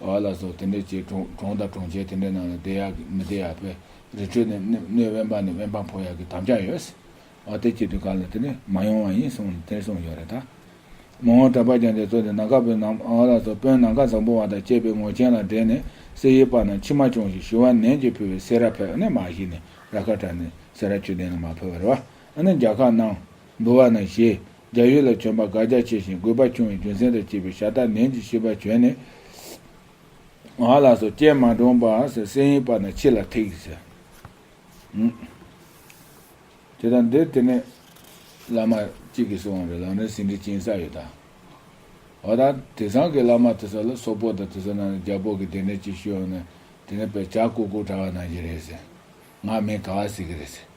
བ་ལ་སོགས་དེ་འདྲའི་ཆེ་གྲོང་དང་གྲོང་ཁྱེར་དེ་འདྲའི་ནང་ལ་བསྡད་ཡག་གི་མི་བསྡད་ཡག་པའི་རི་ཁྲོད་ནས་སྣོད་དབེན་པ་ནས་དབེན་པ་འཕོ་ཡག་གི་དམ་བཅའ་ཡོད། ཨོ་དེ་སྐྱིད་དུ་ག་ལ་དེ་འདྲས་མ་ཡོང་བ་ཡིན་གསུངས་ནས་དེར་སོང་ཡོད་རེད་ད། མོ་ངོ་དྲ་པ་ཀྱང་དེ་ཚོ་དེ་ནང་ཁ་བོད་ནང་བ་ལ་སོགས་དཔོན་ནང་ཁ་བཟང་པོ་བ་དང་བཅས་པའི་ངོ་ཆེན་ལ་འགྲེང་ནས་སེ་ཡི་པ་ན་མཆི་མ་ཅོང་ཞིག་ཞུ་བ་ནན་གྱིས་ཕུལ་བས་སེ་ར་ཕེབས་ནས་མ་ཤི་ནས་ར་ཁ་བྲ་ནས་སེ་ར་ཆུ་ལྡན་ལ་མ་ཕེབས་བར་བ་ཨ་ནི་རྒྱ་ཁ་ནང་འདུ་བ་ན་ཞེས་རྒྱ་ཡུལ་ལ་བྱོན་པ་དགག་རྒྱ་ཆེ་ཞིང་རྒོད་པ་ཆུང་བའི་རྒྱུ་མཚན་དང་བཅས་པའི་ཞྭ་སྟག་ནན་གྱི་ཤི་བ་བྱོན་ནས། ང་ལ་སོ་སྐྱེས་མ་འདྲོངས་པ་ཟེར་སྲན་ཡིན་པ་ན་ཁྱི་ལ་ཐེག་ཟེར། དེ་དང་འདིར་དེ་ནས་བླ་མ་གཅིག་གིས་གསུང་བ་རེད་ལགས་ནས་ཟིན་བྲིས་བྱིན་ས་ཡོད་ད། འོ་ད་དེ་ཚང་གི་བླ་མ་དེ་ཚོ་ལ་སོག་པོ་དང་དེ་ཚོ་རྣམས་ལ་རྒྱ་བོད་ཀྱི་སྡེ་སྣོད་ཅིག་ཞུས་འོང་ནས་དེ་ནས་པས་བྱ་ཀུ་ཀུ་དྲ་བ་གནང་རྒྱུ་རེད་ཟེར། ང་མིན་ག་བ་ཟེར་གི་རེད་ཟེར།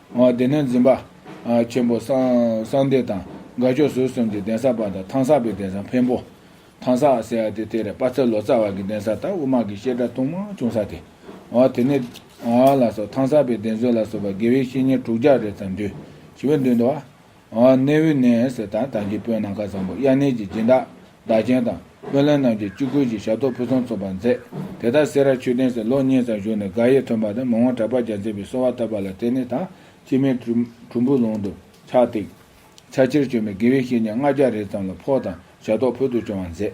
དེ་ནས་འཛིན་པ། ཆེན་པོ། གསང་འདས་དང། དགའ་ཕྱོགས་ཟུར་གསུམ་གྱི་གདན་ས་པ་དང་ཐང་ས་པའི་གདན་ས་འཕན་པོ། ཐང་ས་ཟེར་བ་དེ་དེ་རེད་དཔའ་ཚལ་ལོ་ཙཱ་བ་གི་གདན་ས་དང་དབུ་མ་གི་བཤད་གྲྭ་ཐུང་མ་ཆུང་ས་དེ། དེ་ནས། ལ་སོགས་ཐང་ས་པའི་གདན་སོ་ལ་སོགས་པ་དགེ་བའི་བཤེས་གཉེན་དྲུག་བརྒྱ་རེ་ཙམ་འདུས། ཞི་བའི་མདུན་དུ་བ། གནས་ཝི་ནེ་སི་དང་ཐང་གི་བོད་ནང་ཁ་བཟང་པོ་གཡག་ནེ་གྱི་སྦྱིན་བདག་བདག་ཆེན་དང་བོད་ལྷན་རྣམས་ཀྱིས་སྤྱི་སྒོས་ཀྱི་ཞབས་ཏོག་ཕུན་སུམ་ཚོགས་པ་མཛད། དེ་ལྟར་སེ་ར་ཆོས་ལྡན་སེར་ལོ་གཉིས་ཙམ་བཞུགས་ནས་དགག་དབྱེ་ཐོན་པ་དང་མི་དབང་གྲགས་པ་རྒྱ་མཚན་པའི་གསོལ་བ་བཏབ་པ་ལ་བརྟེན་ནས་ཐང་སྐྱིད་མའི་གྲུམ་བུའི་ལུང་དུ་ཕྱག་བཏེགས། ཕྱག་ཕྱིར་བྱོན་པའི་དགེ་བའི་བཤེས་གཉེན་ལྔ་བརྒྱ་རེ་ཙམ་ལ་ཕོགས་དང་ཞབས་ཏོག་ཕུལ་དུ་བྱུང་བ་མཛད།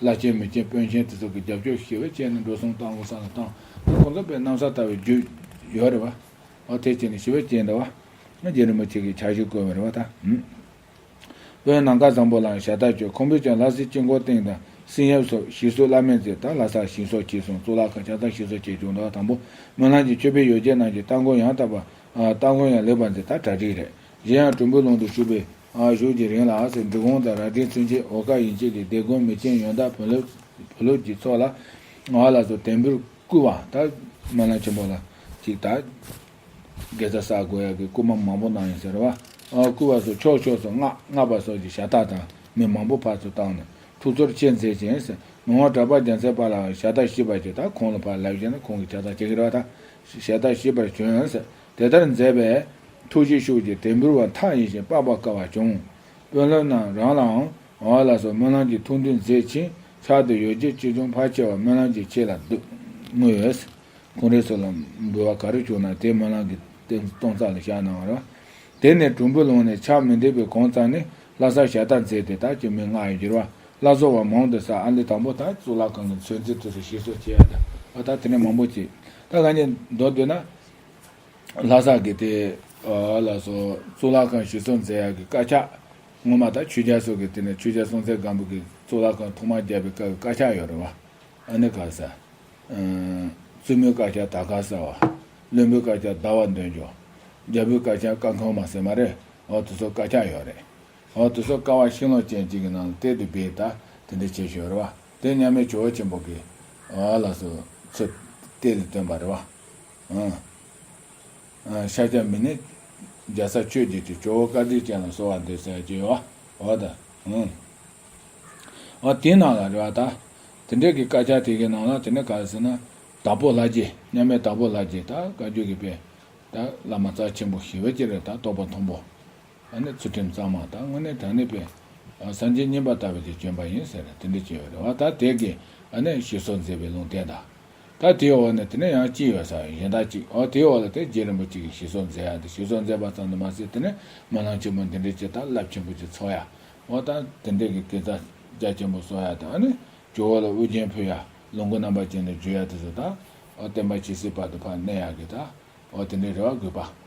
བླ་ཆེན་མི་ཆེན་དཔོན་ཆེན་དེ་ཚོ་གི་རྒྱབ་སྐྱོར་ཞེས་བའི་ཅན་ནི་འགྲོ་སོང་བཏང་ལོ་སང་ལ་བཏང། ཁོང་ཚོ་པའི་གནམ་ས་ལྟ་བའི་རྒྱུ། ཡོད་རེད་བ། ཨོ་དེ་ཅན་ནི་ཞི་བའི་ཅན་འདི་བ། རྗེ་རིན་པོ་ཆེ་གིས་ཕྱག་བཞེས་བསྐོལ་བ་རེད་བ་ད། དཔོན་ནང་བཀའ་བཟང་པོ་ལའང་ཞལ་བརྡ་བཅོལ་ཁོང་པོས་ཀྱང་ལྷ་སའི་དཀྱིལ་འཁོར་སྟེང་དང་སིང་ཡབ་སོགས་ཞི་གསོལ་བླ་མེད་མཛད་དང་ལྷ་སར་ཞིང་སོགས་བྱས་སོང་གཙུག་ལག་ཁང་ཕྱག་དར་ཞིག་སོགས་བྱས་བྱུང་ད་དང་པོ་སྨོན་ལམ་གྱི་ཆོས་དཔེ་ཡོ་བྱད་རྣམས་ཀྱི་སྟ་གོན་ཡང་དག་པ། སྟ་གོན་ཡང་ལེགས་པར་མཛད་ད་གྲ་སྒྲིག་རེད་གཞན་ཡང་གྲུམ་བུའི་ཀློང་དུ་བཞུགས་པའི། ཨང་ཞུགས་ཀྱི་རིང་ལ་ཨ་ཟེར་འབྲི་གུང་དང་རྭ་སྒྲེང་ཚུན་ཆད་ཨོ་ཀ་ཡིན་བཅས་ཀྱི་སྡེ་དགོན་མི་ཆེན་ཡོན་བདག་བོན་ལུགས་བོད་ལུགས་ཀྱི་ཚོགས་ལ་ཨ་ལ་སོགས་དད་འབུལ་བསྐུལ་བ་དང། སྨོན་ལམ་ཆེན་པོ་ལ་གཅིག་དང། དགེ་རྩ་བསགས་དགོས་ཡག་གི་བསྐུལ་མ་མང་པོ་གནང་ཡོད་ཟེར། བ་ཨའི་བསྐུལ་བ་སོགས་ཕྱོགས་ཕྱོགས་སུ་སྔགས་བསྔགས་པ་སོགས་ཀྱི་ཞྭ་སྟག་དང་མི་མང་པོ་ཕར་ཚུར་བཏང་ནས་ཐུགས་ཚོར་ཆེ་མཛད་ཅིང། མི་དབང་གྲགས་པ་རྒྱལ་མཚན་པ་ལའང་ཞྭ་སྟག་བཞི་པ་ཞིག་དང་ཁོང་ལ་ཕ་ལེགས་བཞེད་ནས་ཁོང་གི་ཕྱག་རྟགས་ཅེ་གི་ར་བ་དང་ཞྭ་སྟག་བཞི་པར་བྱོན། དེ་ལྟར་མཛད་པས། ཐུགས་རྗེ་ཤུགས་ཀྱིས་དད་འབུལ་བ་མཐའ་ཡས་ཤིང་དཔག་པར་དཀའ་བ་བྱུང། དཔོན་སློབ་རྣམས་རང་ལའང་མ་བ་ལ་སོགས་སྨོན་ལམ་གྱི་ཐུགས་འདུན་མཛད་ཅིང་ཕྱག་ཏུ་ཡོ་བྱད་ཅི་བྱུང་ཕར་ཆེ་བར་སྨོན་ལམ་གྱི་ཆེད་ལ་བསྔོས། གུང་རེ་སོགས་ལ་འབུལ་བ་ག་རེ་བྱུང་ན་དེ་སྨོན་ལམ་གྱི་སྟོང་རྩ་ལ་བཞག་གནང་བར། དེ་ནས་གྲུམ་བུ་ལོང་ནས་ཕྱག་མི་འདེབས་པའི་གོང་རྩ་ནི་ལྷ་སར་ཞལ་བསྟར་མཛད་དེ་དག་གི་མིང་སྔགས་ཡོད་འགྱུར་བ་བླ་བཟོ་བ་མང་དུ་སར་ཨ་མདོའི་དང་པོ་དང་གཙུག་ལག་ཁང་གི་མཚོན་རྩེ་དུས་སུ་ཞེས་སོགས་བྱས། བ་དག་དེ་ནས་མང་པོ་བྱས། ད་ག་ཉིད་མདོར་བསྡུ་ན། ལྷ་སར་གྱི་དེ་ལ་སོགས་གཙུག་ལག་ཁང་བཞི་སྲུང་མཛད་ཡབ་ཀྱི་བཀའ་ཕྱག། སྔོན་མ་དང་ཆོས་རྒྱལ་སོགས་ཀྱི་དེ་ནས་ཆོས་རྒྱལ་སྲུང་མཛད་སྒམ་པོ་གྱི་གཙུག་ལག་ཁང་ཐོག་མར་རྒྱལ་བའི་བཀའི་བཀའ་ཕྱག་ཡོད་རེད་བ། ཨ་ནི་གར་སར། བཙུན་མོའི་བཀའ་ཕྱག་དར་གར་སར་བ། བློན་པོའི་བཀའ་ཕྱག་ཟླ་བ་འདོན་འཇོག། རྒྱལ་པོའི་བཀའ་ཕྱག་བཀའ་འཁོར་མ་ཟེར་མ་རེད་བ་དེ་ཚོ་བཀའ་ཕྱག་ཡོད་རེད་བ། དེ་ཚོ་ཀ་བ་ཤིང་ལོ་ཅན་གཅིག་གི་ནང་དེད་དུ་སྦས་ད་དེ་འདྲ་བྱེད་ཞོར་རེད་བ། དོན་མཉམ་མེད་ཇོ་བོ་ཆེན་པོ་གིས། ལ་སོགས་ཚུལ་བསྟན་ལས་སྟོན་པ་རེ་བ། ཤཱཀྱ་མི་ནི། འཇའ་ཚ་ཆོས་བརྒྱད་ཀྱི་ཇོ་བོ་བཀའ་དྲིན་ཅན་ལ་གསོལ་བ་འདེབས་སའི་རྒྱལ་བ། འོ་ད་ཧུང། འོ་དེའི་ནང་ལ་རེ་བ་དག། དེ་འདྲའི་གི་དཀར་ཆག་དེ་གི་ནང་ལ་དེ་ནི་ག་རེ་ཟེར་ན། དྭགས་པོ་ལྷ་རྗེ་མཉམ་མེད་དྭགས་པོ་ལྷ་རྗེ་དག་བཀའ་བརྒྱུད་ཀྱི་དཔལ། དག་བླ་མ་རྩ་ཆེན་པོ་ཞི་བ་སྐྱེས་རེ་དག་རྟོགས་པ་མཐོན་པོ། ཨ་ནི་ཚུལ་ཁྲིམས་གཙང་མ་དག་དངོས་གནས་དོན་གནས་པས། སངས་རྒྱས་བསྙེན་པར་ལྟ་བའི་དེ་སྐྱོན་པ་ཡིན་ཟེར། དེ་འདི་སྐྱེ་བའི་རེ་བ་དག་དེ་ཀའི་ཨ་ནི་ཞེས་སོགས་མཛེས་པའི་ལུང་བསྟན་དང། ད་དེའི་འོག་ནས་དེ་ནས་ཡང་ཅི་ཡོད་ས་ཡོད་གཞན་དག་ཅིག་ཨོ་དེའི་འོག་ལ་དེ་རྗེ་རིན་པོ་ཆེ་གིས་ཞེས་སོགས་མཛད་ཡ་འདི་ཞེས་སོགས་མཛད་པ་ཙམ་དུ་མ་ཟད་དེ་ནས་མ་ལང་ཆེན་པོ་འདི་འདྲའི་བྱེད་ཐབས་རླབས་ཆེན་པོ་ཅིག་འཚོགས་ཡ། འོ་ད་དེ་འདྲའི་གི་གེ་ཙག་རྒྱ་ཆེན་པོ་སོགས་ཡ་དང་ཨ་ནི་ཇོ་བོ་ལ་དབུ་རྒྱན་ཕུལ་ཡ། ལོངས་སྐུ་རྣམ་པར་བཅས་ནས་བརྗོད་ཡ་དེ་ཚོ་དག། ཨོ་བསྟན་པ་ཇི་སྲིད་བར་དུ་བར་གནས་ཡ་གི་དག། འོ་དེ་འདྲའི་རེ་བ་དགོས་པ།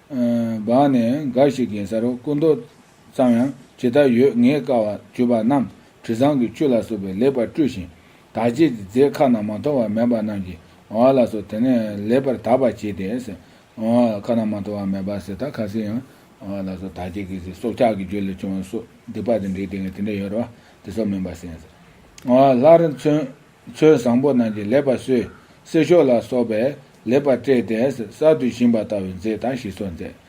བར་ནས་འགའ་ཞིག་གི་ས་རུ་སྐུ་མདོག་ཙམ་ཡང་ཇི་ལྟར་ཡོད་ངེས་དཀའ་བ་བརྒྱུད་པ་རྣམས་དྲི་བཟང་གི་བཅུད་ལ་སོགས་པས་ལེགས་པར་བཀྲུས་ཤིང། དག་བྱེད་ཀྱི་རྫས་ཁ་ན་མ་ཐོ་བ་མེད་པ་རྣམས་ཀྱི་བར་ལ་སོགས་དེ་ནས་ལེགས་པར་དག་པར་བྱས་ཏེ། ཁ་ན་མ་ཐོ་བ་མེད་པ་ཟེར་ཐག་ཁ་སིའི་ཡང་བར་ལ་སོགས་དག་བྱེད་ཀྱི་རྫས་སྲོག་ཆགས་ཀྱི་རྒྱུ་ལས་བྱུང་བ་སོགས་སྡིག་པ་དང་འདྲེས་ཏེ་ངས་དེ་འདྲ་ཡོད་རེ་བ་དེ་སོགས་མིན་པར་སེམས། ལྷར་མཚོན། ཚོད་བཟང་པོ་རྣམས་ཀྱིས་ལེགས་པར་གསོས། གསེར་ཤོག་ལ་སོགས་པས་ལེགས་པར་སྤྲས། གདན་གསར་དུ་བཞེངས་པ་ལྟ་བུའི་མཛེས་དང་ཞི་སོགས་མཛད།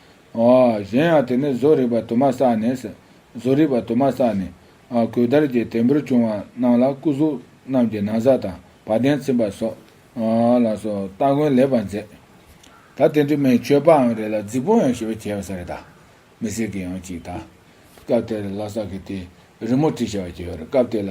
གཞན་ཡང་དེ་ནས་བཟོ་རིག་པ་དུ་མ་བསགས་ནས། བཟོ་རིག་པ་དུ་མ་བསགས་ནས། གོས་དར་གྱི་དད་འབུལ་བྱུང་བ་རྣམས་ལ་སྐུ་གཟུགས་རྣམས་ཀྱི་ན་བཟའ་དང་བ་དན་ཚིམ་པ་སོགས་ལ་སོགས་སྟ་གོན་ལེགས་པར་མཛད། ད་དེ་འདྲི་མའི་མཆོད་པའང་རེ་ལ་རྫིག་པོ་ཡང་ཞེས་པ་བྱས་པ་ས་རེ་དང། མི་སེར་གྱི་ཡང་གཅིག་དང། སྐབས་དེར་ལྷ་ས་གི་དེའི་རི་མོ་བྲིས་བྱ་བ་བྱས་པར་སྐབས་དེ་ལ་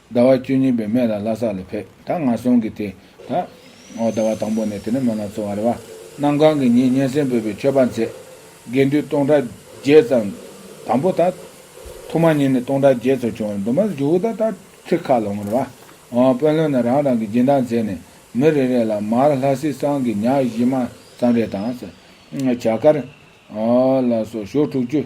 ཟླ་བ་བཅུ་གཉིས་པའི་སྨད་ལ་ལྷ་སར་ལ་ཕེབས་ད་ང་སོང་གི་དེ་ད། ཨོ་ཟླ་བ་དང་པོ་ནས་དེ་ནས་མ་ལ་ཚོ་བ་རེ་བ། གནམ་གང་གི་ཉིན་སྙན་སེང་བོད་པའི་ཆོས་པ་མཛད། དགེ་འདུན་སྟོང་ཕྲག་བརྒྱད་ཙམ། དང་པོ་ད། ཐོག་མ་ཉིན་ནས་སྟོང་ཕྲག་བརྒྱད་ཚོ་བྱུང་བ་འདུག་མ་ཟད་ཇོ་བོ་ད་ད་ཚེ་ཁ་ལ་འོང་རེ་བ། དཔོན་བློན་རྣམས་རང་རང་གི་སྦྱིན་བདག་མཛད་ནས་མི་རེ་རེ་ལ་མར་ལྷ་སྲིན་སང་གི་ཉག་བཞི་མ་ཙམ་རེ་དང། བྱ་དཀར། ལ་སོགས་ཞོ་དྲུག་ཅུ།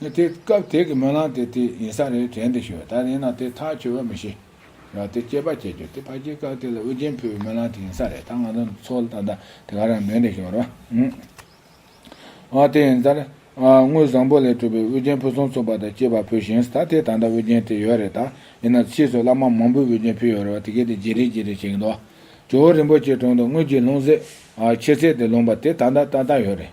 ནི་དེ་སྐབས་དེ་གི་སྨོན་ལམ་དེ་དེ་ཡིན་ས་རེད་དྲན་དུ་ཞུ། ད་ཡིན་ན་དེ་ཐག་ཆོད་པ་མི་ཤེས། ཡང་དེ་སྐྱེས་པ་སྐྱེས་གྱུར་དེ་ཕ་གྱི་སྐབས་དེ་ལ་དབུ་རྒྱན་ཕུལ་བའི་སྨོན་ལམ་དེ་ཡིན་ས་རེད་ད་ང་ཚོ་ཚོ་ལ་ད་ལྟ་དེ་ག་རང་མོས་འདི་ཞུ་རོགས། ཨོ་དེ་ཡིན་ཙར། དངུལ་བཟང་པོ་ལས་གྲུབ་པའི་དབུ་རྒྱན་ཕུལ་སོང་ཚོ་བ་དང་སྐྱེས་པ་ཕུལ་ཞིང་ད་དེ་ད་ལྟ་དབུ་རྒྱན་དེ་ཡོད་རེད་ད་ཡིན་ན་ཕྱིས་སུ་བླ་མ་མང་པོས་དབུ་རྒྱན་ཕུལ་ཡོད་རེད་བ་དེ་གའི་དེ་བརྗེ་རེས་བརྗེ་རེས་བྱེད་ཀྱི་འདུག་ཇོ་བོ་རིན་པོ་ཆེའི་དྲུང་དུ་དངུལ་གྱི་ལྷུང་བཟེད། ཕྱེ་བཟེད་དེ་ལོངས་པ་དེ་ད་ལྟ་ད་ལྟ་ཡོད་རེད།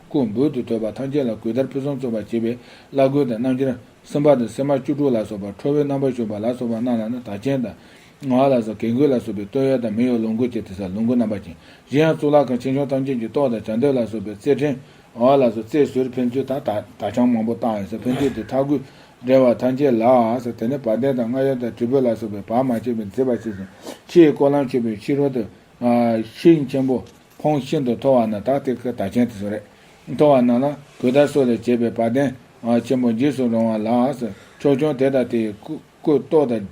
སྐུ་འབུད་དུ་དོད་པ་ཐམས་ཅད་ལ་གུས་དར་ཕུན་སུམ་ཚོགས་པར་བྱེད་པའི་བླ་གོས་དང་རྣམ་འབྱར། སེམས་དཔའ་དང་སེམས་མ་བཅུ་དྲུག་ལ་སོགས་པ་ཁྲོ་བོའི་རྣམ་པར་ཞུགས་པ་ལ་སོགས་པ་རྣམས་ལ་ནི་དར་ཆེན་དང། ངག་ལ་སོགས་གེགས་འགོས་ལ་སོགས་པའི་སྟོད་གཡོགས་དང་མི་གཡོགས་ལོངས་སྐུ་བཅས་ཏེ་སར་ལོངས་སྐུ་རྣམ་པ་ཅན། གཞན་ཡང་གཙུག་ལག་ཁང་ཆེ་ཆུང་ཐམས་ཅད་ཀྱི་ཏོག་དང་བྱ་འདོད་ལ་སོགས་པའི་རྩེར་ཕྲེང། བ་ལ་སོགས་རྩེར་ཟུར་ཕན་ཚུན་དང་དག་བྱང་མང་པོ་བཏགས་ཡོད་སར་ཕན་ཚུན་དེ་ཐག་གུས། འབྲེལ་བ་ཐམས་ཅད་ལགས། དེ་ནས་བ་དན་དང་རྔ་ཡོལ་དང་དྲིལ་བུ་ལ་སོགས་པའི་བར་མ་ཆད་པའི་མཛེས་པ་བྱས་ཤིང། ཕྱིའི་ཀོ་ལྭང་མཆོད་པའི་ཕྱི་རོལ་དུ། ཤིང་ཆེན་པོ། ཁོངས་ཤིན་ཏུ་མཐོ་བ་ན་དག་ཐེར་གྱི་དག་ཆེན་དུ་སོ་རེག་མཐོ་བ་ན་ལ་གོས་དར་སོགས་ལས་བྱས་པའི་བ་དན་ཆེན་པོ་འཇིགས་སུ་རུང་བ་ལགས་སོ། ཕྱོགས་ཆུང་དེ་དང་དེའི་སྐུ། ཏོག་དང།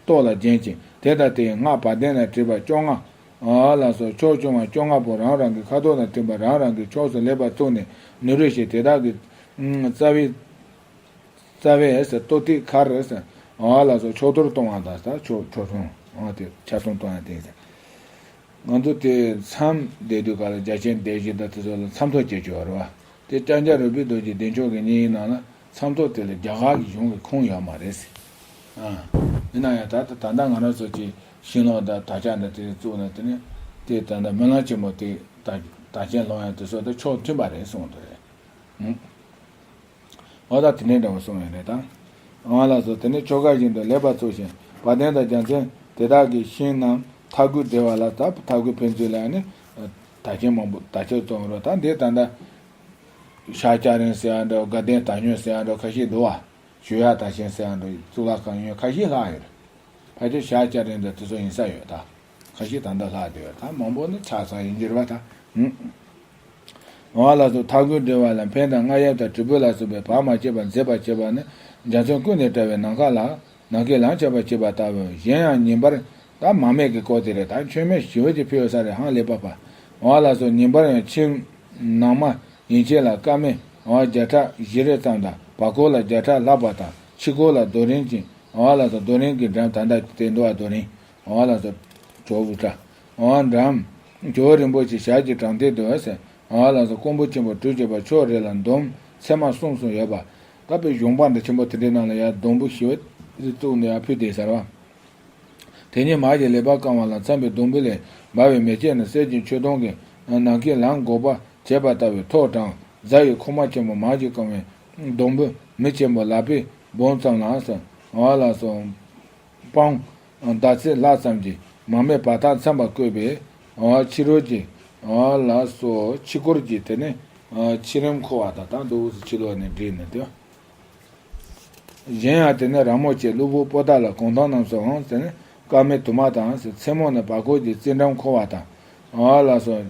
ཏོག་ལ་བརྒྱན་ཅིང་དེ་དང་དེའི་སྔགས་བ་དན་ལ་བྲིས་པ་བཅོ་ལྔ། ལགས་སོ། ཕྱོགས་ཆུང་བ་བཅོ་ལྔ་པོ་རང་རང་གི་ཁ་དོག་དང་མཐུན་པར་རང་རང་གི་ཕྱོགས་སུ་ལེགས་པར་བཙུགས་ནས་ནུ་རུ་ཞིག་དེ་དག་གི། རྩ་བའི། རྩ་བས། ཏོག་ཐིག་མཁར། ལགས་སོ། ཕྱོགས་དོར་གཏོང་བ་དང། ཕྱོགས་ཆུང། ཆ་གསུམ་གཏོང་ཡང་དེ། ང་ཚོ་དེ་མཚམས་བསྡད་དུས་ག་ལ་རྒྱ་ཆེན་སྡེ་བཞི་དང་དེ་ཚོ་ལ་མཚམས་ཐོག་བཅས་བྱོས་རེད་བ། དེ་སྐྲ་འཇའ་རོལ་པོའི་རྡོ་རྗེ་བདེ་མཆོག་གི་སྙིང་ཡིན་ནང་ལ་མཚམས་ཐོག་དེ་ལ་རྒྱ་གར་གྱི་གཞུང་གི་ཁུངས་ཡོད་མ་རེད་ཟེར། ཡིན་ན་ཡང་ད་ལྟ་ད་ལྟ་ང་རང་ཚོ་གྱི་ཤིང་ལོག་དང་དར་ཆ་འདི་དེ་རིང་བཙུགས་ནས་དེ་ནས་དེ་ད་ལྟ་མི་ལང་ཆེན་མོ་དེ་དར་ཆེན་ལོག་ཡང་དེ་ཚོ་དང་ཕྱོགས་མཐུན་པ་རེད་གསུངས་འདུག་རེད། ཨོ་ད་དེ་འདྲའི་འདྲ་བ་སོང་བས་རེད་དམ། ཨང་ལགས་སོ་དེ་ནི་ཆོ་ག་བཞིན་དུ་ལེགས་པར་རྩོད་བཞིན་བ་དན་དང་རྒྱ་མཚན་དེ་དག་གི་ཤིང་རྣམས་མཐའ་བསྐུལ་བདེ་བ་ལ་ད་མཐའ་བསྐུལ་ཕན་ཚུན་ལ་ཡང་ནི་དར་ཆེན་མང་པོ་དར་ཆེན་བཙོང་རོགས་ད་འདི་ད་ལྟ་ཤ་སྐྱ་རེང་ཟེར་བ་འདྲ་དགའ་ལྡན་དར་ཉོན་ཟེར་བ་འདྲ་ཁ་ཤས་འདུག་བ། ཞུ་ཡག་དར་ཆེན་ཟེར་བ་འདྲ་གཙུག་ལག་ཁང་ཡོན་ཁ་ཤས་ལྷག་ཡོད་རེད། ཕལ་ཆེར་ཤ་སྐྱ་རེང་འདྲ་དེ་ཚོ་ཡིན་ས་ཡོད་ད། ཁ་ཅིག་ད་ལྟ་ལྷག་བདེ་བ་དང་མང་པོ་ནི་ཆགས་སངས་ཡིན་འགྱུར་བ་དང། བ་ལ་སོགས་མཐའ་ཀུན་འདྲིལ་བ་ལ་འཕེན་དང་རྔ་ཡབ་དང་དྲིལ་བུ་ལ་སོགས་པའི་བག་མ་བྱས་པར་མཛེས་པར་བྱེད་པ་ནི་འཇའ་ཚོན་ཀུན་ནས་བཀྲ་བའི་ནམ་མཁའ་ལ། ནམ་མཁའི་ལམ་ཆགས་པར་བྱེད་པ་ལྟ་བུའོ། གཞན་ཡང་ཉིན་པར། ད་མ་མེད་ཀྱི་སྐོར་དེ་རེ་དང་ཆོས་མེད་ཞི་བ་ཅི་ཕེའུ་ས་རེ་ཧང་ལེ་པ་པ། བ་ལ་སོགས་ཉིན་པར་ཡང་ཕྱིར། ནང་མ། ཡིན་བྱེད་ལ་སྐར་མའི། བ་བརྒྱ་ཕྲག་བཞི་རེ་ཙམ་དང་བར་སྐོར་ལ་བརྒྱ་ཕྲག་ལྷག་པ་དང་ཕྱི་སྐོར་ལ་རྡོ་རིང་ཅན། བ་ལ་སོགས་རྡོ་རིང་གི་འགྲམ་དང་ད་ལྟའི་འགྲོ་བ་རྡོ་རིང། ཨོ་ལ་ཏོ། ཇོ་བོ་ཏྲ། ཨོ་འགྲམ། ཇོ་བོ་རིན་པོ་ཆེ་ཞལ་གྱི་དྲང་ཐིག་ཏུ། ཨོ་ལ་ཏོ་ཀོང་པོ་ཆེན་པོ་གྲུ་བྱས་པ་ཕྱོགས་རེ་ལ་འདོམ་ཚད་མ་གསུམ་གསུམ་ཡོད་པ། བཀའ་པོད་གཞུང་འབངས་འདྲ་ཆེན་པོ་དེ་འདྲའི་ནང་ལ་ཡར་སྡོང་བུ་ཞི་བ་རིས་བཙུགས་ནས་ཡར་ཕུད་དེ་གཟར་བ། དེ་ཉིད་མར་གྱི་ལེ་བར་བཀང་བ་ལ་འཚམ་པའི་སྡོང་བུ་ལས་འབར་བའི་མེ་ཁྱེར་ནི་གསེར་གྱི་མཆོད་སྡོང་གི་ནང་གི་ལམ་འགོག་པར་བྱེད་པ་ལྟ་བུའི་ཐོག་དྲང་གཟར་ཡི་ཁོག་མ་ཆེན་པོ་མར་གྱིས་བཀང་བའི་སྡོང་བུ་མི་ཆེན་པོ་ལ་པི་བོང་ཙམ་ལ། ཨོ་ལ་ཏོ། སྤང། ཟླ་ཚེས་ལྷག་ཙམ་གྱི་མ་སྨད་བར་ཐག་མཚམས་པར་བཀོད་པས། ཕྱི་རོལ་གྱི། ལ་སོགས་ཕྱི་སྐོར་གྱི་དེ་ནི། ཕྱི་རིམ་འཁོར་བ་དང་དང་དུ་དབུས་སུ་ཕྱི་ལོགས་ནས་བསྒྲིགས་ནས་དེ། གཞན་ཡང་དེ་ནི་ར་མོ་བཅས་གློ་བུར་པོ་དག་ལ་གུང་ཐང་རྣམས་སུའང་དེ་ནི་སྐར་མའི་དུ་མ་དང། མཚན་མོ་ནས་བར་སྐོར་གྱི་རྩིས་འགྲམ་འཁོར་བ་དང། ལ་སོགས།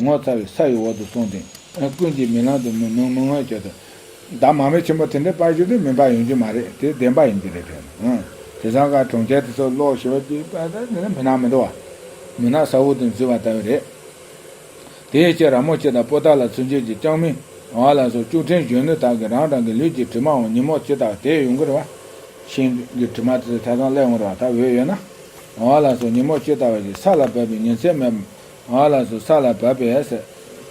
ངོ་ཚ་བའི་ས་ཡི་འོག་ཏུ་སོང་སྟེ། ཀུན་གྱིས་མི་ལང་དུ་མི་སྨྲ་མི་ངོ་ཅོག་དང། བདག་མ་མི་ཆེན་པོ་དེ་འདྲའི་དཔའ་ཞིག་ཏུ་མི་འབའ་ཡོང་རྒྱུ་མ་རེད་དེ་བདེན་པ་ཡིན་རྒྱུ་རེད་དྲན། དེ་བཟང་དཀར་གྲོང་ཁྱེར་དེ་ཚོར་ལོག་ཞི་བ་བགྱིད་པ་ལྟ་བུ་ནི་མི་ནག་མི་འདྲ་བ། མི་ནག་ས་འོག་ཏུ་འཛུལ་བ་ལྟ་བུ་རེད། དེའི་ཕྱིར་ར་མོ་ཆེ་དང་པོ་ཏཱ་ལ་ཚུན་ཆད་ཀྱི་ཅང་མིན་ཝང་ལ་སོགས་ཅུག་ཕྲན་གཞོན་ནུ་དག་གིས་རང་རང་གི་ལུས་ཀྱི་དྲི་མའང་ཉིན་མོར་ཇི་ལྟར་དེད་ཡོང་གི་རེད། ཤིང་གི་དྲི་མ་དེ་ཚོ་ཆ་ཚང་བསླད་འོང་རེད་བ་ད་འོས་ཡོད་ན། ཝང་ལ་སོགས་ཉིན་མོར་ཇི་ལྟར་བ་ཞིག་ས་ལ་བབས་པའི་ཉིན་མཚན་མེད་པ་ང་ལ་སོ་ས་ལ་བབས་པས་ཟེར།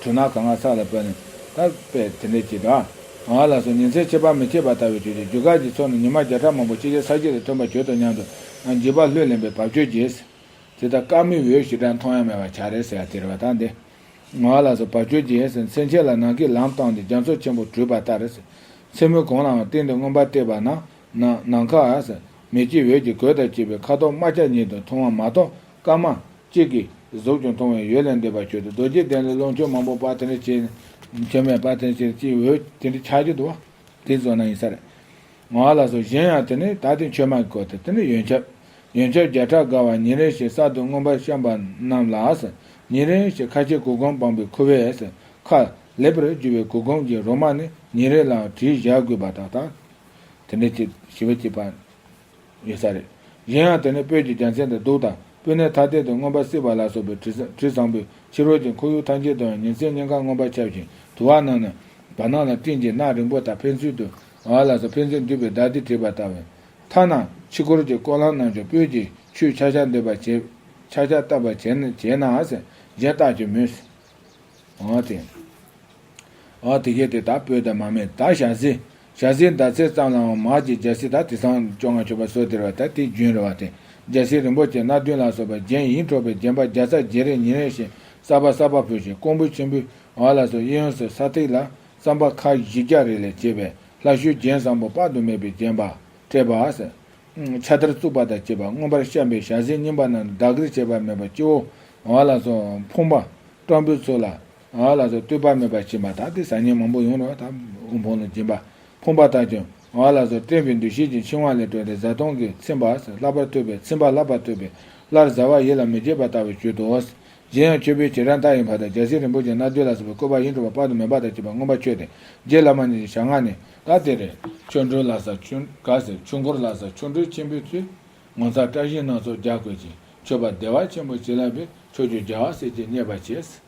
དྲུང་ན་གང་ང་ས་ལ་བབས་ནས། ད་པས་དེ་འདྲས་ཀྱིས་དང། ང་ལ་སོ་ཉིན་མཚན་ཕྱེད་པར་མི་ཕྱེད་པར་ལྟ་བའི་དུས་ཀྱི་རྒྱུ་སྐར་གྱི་ཚོགས་ནི་ཉི་མ་བརྒྱ་ཕྲག་མང་པོ་ཕྱི་རྒྱལ་ས་སྐྱེས་ལ་སྟོན་པར་གྱུར་ཏོ་སྙམ་དུ་ང་འཇིགས་པ་ལྷོད་ལེན་པའི་བབ་ཅོལ་གྱིས། དེ་ལྟར་སྐར་མིག་འོད་ཞི་དྲག་མཐོང་ཡང་མེད་པར་བྱ་རེ་ཟེར་བ་དེ་རེ་བ་དང་འདི། ང་ལ་སོ་བབ་ཅོལ་གྱིས། མཚན་ཕྱེད་ལ་ནང་གི་ལམ་བཏང་སྟེ་རྒྱ་མཚོ་ཆེན་པོ་བྲུས་པ་ལྟར། མཚན་མོའི་གོང་ལའང་སྟེང་དུ་མངོན་པར་བལྟས་པ་ན། ནམ་མཁའ། མེ་ལྕེའི་འོད་ཀྱིས་གོས་དང་བཅས་པའི་ཁ་དོག་དམར་ཆ་ཉིད་དུ་མཐོང་བ་མ་གཏོགས་སྐར་མ། གཅིག་གིས་གཟུགས་ཀྱང་མཐོང་བས་ཡུལ་ལས་འདས་པར་གྱུར་ཏེ་རྡོ་རྗེའི་གདན་ལ་རླུང་ཁྱུང་མང་པོ་དཔའ་དེ་འདྲ་བྱས་ནས། ཁྱིམ་མེད་དཔའ་དེ་ཕྱིར་ཅིའི་འོས་དེ་འདྲའི་ཆ་གཅིག་ཏུ་བ། དེའི་བཟོ་ན་ཡིན་ས་རེད། ང་ལ་སོགས་གཞན་ཡང་དེ་ནི་ད་ལྟའི་མཆོད་མ་གི་སྐོར་དེ་དེ་ནི་ཡོན་ཆབ། ཡོན་ཆབ་བརྒྱ་ཕྲག་དགའ་བ་ཉིན་རེ་ཞིག་གསར་དུ་མངོན་པར་བཤམས་པ་རྣམས་ལགས། ཉིན་རེ་ཞིག་ཁ་ཆེའི་གུར་གུམ་སྤངས་པའི་ཁུ་བས་ཁ། ལེགས་པར་བསྒྱུར་བའི་གུར་གུམ་གྱི་རོ་མ་ནི་ཉིན་རེ་ལའང་བྲིས་བཞག་དགོས་པ་དག་དང། དེ་འདྲའི་ཆེད་དུ་ཞི་བ་སྐྱེད་པ། ཡོད་ས་རེད། གཞན་ཡང་དེ་ནས་སྤོས་ཀྱི་རྒྱ་མཚན་དང་གདུགས་དང་སྤོས་སྣའི་ཐ་དད་དུ་མངོན་པར་སྲིད་པ་ལ་སོགས་པའི་དྲི་བཟང་པོས་ཕྱི་རོལ་གྱི་འཁོར་ཡུག་ཐམས་ཅད་དུའང་ཉིན་མཚན་སྙིང་གར་མངོན་པར་ཁྱབ་ཅིང་དུ་བ་རྣམས་ནི། བར་སྣང་ལ་སྤྲིན་གྱི་ནགས་རིང་པོ་དག་ཕན་ཚུན་དུ། བ་ལ་སོགས་ཕན་ཚུན་འདུས་པའི་ཟླ་འདི་བྲིས་པ་ལྟ་བུ། ཐ་ན་ཕྱི་འཁོར་གྱི་སྐོར་ལམ་རྣམས་ཀྱང་སྤོས་ཀྱི་ཆུས་ཆག་ཆག་འདེབས་པར་བྱེད། ཆག་ཆག་བཏབ་པར་བྱེད། བྱེད་ནའང་སེམས་ཅན་རྟག་གྱུར་མོད། འོ་དེ། འོ་དེ་ཁྱེད་དེ་དག་སྤོས་དང་མ་སྨད་དག་བཞག་ཟིན། བྱ་སའི་ཟླ་ཚེས་ཙམ་ལའང་མར་གྱི་རྒྱལ་སྲིད་དང་དེ་སང་བཅོ་ལྔ་མཆོད་པ་སོགས་སྟེར་བ་དང་དེའི་རྒྱུན་རེ་བ་སྟེ་རྒྱལ་སྲིད་རིན་པོ་ཆེ་སྣ་བདུན་ལ་སོགས་པ་རྒྱན་ཡིན་འཕྲོག་པའི་རྒྱན་པ་བརྒྱ་རྩ་བརྒྱད་རེ་ཉིན་རེ་བཞིན་གསར་པ་གསར་པ་ཕུལ་ཞིང་ཀོང་པོ་ཆེན་པོའི་བར་ལ་སོགས་གཡས་གཡོན་སོགས་ས་ཐིག་ལ་རྩམ་པ་ཁ་བཞི་བརྒྱ་རེ་ལས་བྱས་པའི་ལྷ་བཤོས་རྒྱན་བཟང་པོ་དཔག་ཏུ་མེད་པའི་བརྒྱན་པ། སྤྲས་པ། ཕྱག་དར་བཙུགས་པ་དང་བཅས་པ་མངོན་པར་བཤམས་པའི་ཞལ་ཟས་རྙིང་པ་རྣམས་བདག་གིར་བྱས་པ་མེད་པར་སྤྱི་བོ་བར་ལ་སོགས་འཕོངས་པ་སྤྲང་པོའི་ཚུལ་ལ། ང་ལ་སོགས་ལྟོས་པ་མེད་པར་བྱེད་པ་དག་དེ་ཟག་ཉལ་མང་པོ་ཡོང་རོགས་དང། དབུལ་ཕོངས་ལ་སྦྱིན་པ། ཕོངས་པ་དག་ཀྱང་ང་ལ་སོགས་བཀྲེན་པའི་འདུ་ཤེས་ཀྱི་འཆིང་བ་ལས་གྲོལ་ཏེ་བཟའ་བཏུང་གིས་ཚིམ་པ། ལྷག་པར་ལྟོས་པས་ཚིམ་པ་ལྷག་པར་ལྟོས་པས་སླར་བཟའ་བ་ཡིད་ལ་མི་བྱེད་པ་ལྟ་བུར་བྱོས་ཏོ། གཞན་ཡང་ཁྱོད་བོད་ཁྱེད་རང་ལྟ་ཡི་བར་དང་རྒྱལ་སྲས་རིན་པོ་ཆེ་རྣལ་འབྱོར་ལ་སོགས་པའི་བཀོད་པ་ཡིད་འཕྲོག་པ་དཔག་ཏུ་མེད་པ་དང་བཅས་པ་མངོན་པར་མཆོད་དེ་རྗེ་བླ་མ་ཉིད་ཀྱི་ཞབས་སྔགས་ནི། ད་དེ་རེད། ཆོ་འཕྲུལ་ལ་སོགས་ཆོས། ག་ཟེར་ཆོས་འཁོར་ལ་སོགས་ཆོ་འཕྲུལ་ཆེན་པོའི་ཚུལ། ངོ་མཚར་བཀྲ་ཤིས་སྣ་ཚོགས་རྒྱ་བཀོད་ཅིང་མཆོད་པ་བདེ་བ་ཆེན་པོ་བྱིན་རླབས་པས་ཆོས་སྤྱོད་རྒྱལ་བ་སྲས་བཅས་མཉེས་པར་བྱས།